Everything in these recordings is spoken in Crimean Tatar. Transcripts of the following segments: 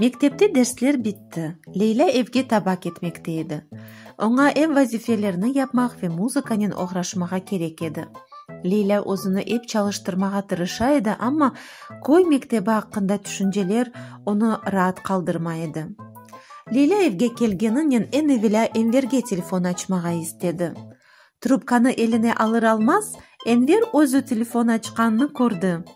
Mektepte dersler bitti. Leylâ evge taba ketmekte edi. Oña ev vazifelerni yapmaq ve muzıkanen oğraşmağa kerek edi. Leylâ özüni ep çalıştırmağa tırışa edi, amma köy mektebi aqqında tüşünceler onı raat qaldırmay edi. Leylâ evge kelgeninen eñ evelâ Enverge telefon açmağa istedi. Trubkanı eline alır-almaz, Enver özü telefon açqanını kördi.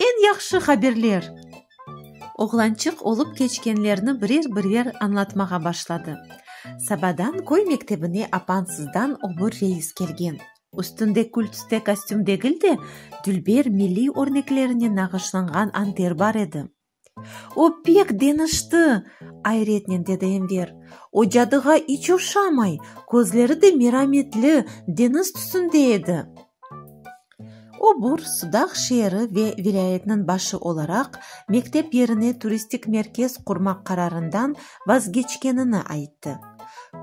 Eñ yahşı haberler! Oğlançıq olıp keçkenlerni birer-birer añlatmağa başladı. Sabadan köy mektebine apansızdan obur reis kelgen. Üstünde kül-tüste kostüm degil de, dülber milliy örneklerinen nağışlanğan anter bar edi. O pek deñişti! ayretnen dedi Enver. O cadığa iç oşamay, közleri de merametli, deñiz tüsünde edi. O bur Sudaq şeeri ve vilâyetniñ başı olaraq mektep yerine turistik merkez qurmaq qararından vazgeçkenini ayttı.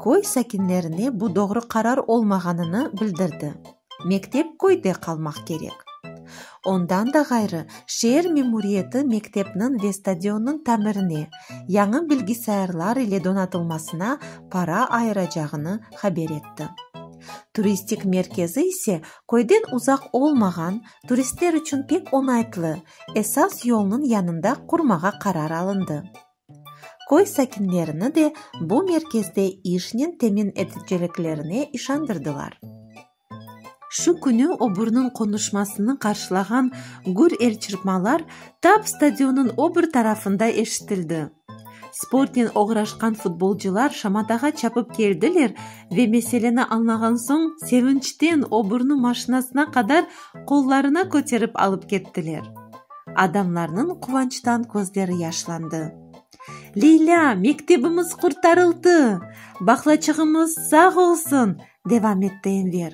Köy sakinlerine bu doğru qarar olmağanını bildirdi. Mektep köyde qalmaq kerek. Ondan da ğayrı, şeer memuriyeti mektepniñ ve stadionnıñ tamirine, yañı bilgisayarlar ile donatılmasına para ayıracağını haber etti. Turistik merkezi ise köyden uzaq olmağan, turistler içün pek oñaytlı, esas yolnıñ yanında qurmağa qarar alındı. Köy sakinlerini de bu merkezde işnen temin eteceliklerine işandırdılar. Şu künü oburniñ qonuşmasını qarşılağan gür el çırpmalar tap stadionıñ obur tarafında eşitildi. Sportnen oğraşqan futbolcılar şamatağa çapıp keldiler ve meseleni añlağan soñ sevinçten oburnu maşinasına qadar qollarına köterip alıp kettiler. Adamlarnıñ quvançtan közleri yaşlandı. Leylâ, mektebimiz qurtarıldı! Baqlaçığımız sağ olsun! devam etti Enver.